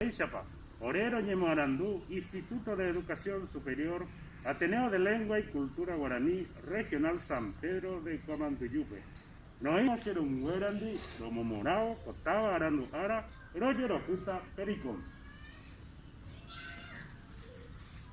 Mba'éichapa? Ore roñemoarandu Instituto de Educación Superior Ateneo de Lengua y Cultura Guaraní Regional San Pedro de Guamanduyúpe, noĩva che rũmbyerandi romomorãvo ko táva arandu ára rojerohýta Pericón.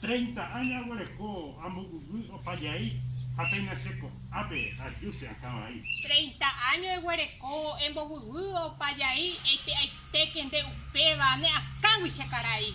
Treinta áño aguereko ambovyvy opa jey ha péina che ko'ápe ajúse akã vai. Treinta áño eguereko embovyvy opa jey eite'aitéke nde upéva ne akãgui che karai.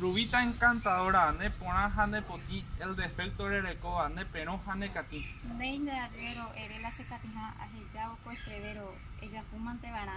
Rubita encantadora, ne porã ha ne potĩ, el defecto rerekóva, ne perõ ha ne katĩ. Néi nde arriero, ere la che katĩha, aheja oko estrevero, ejapúmante varã.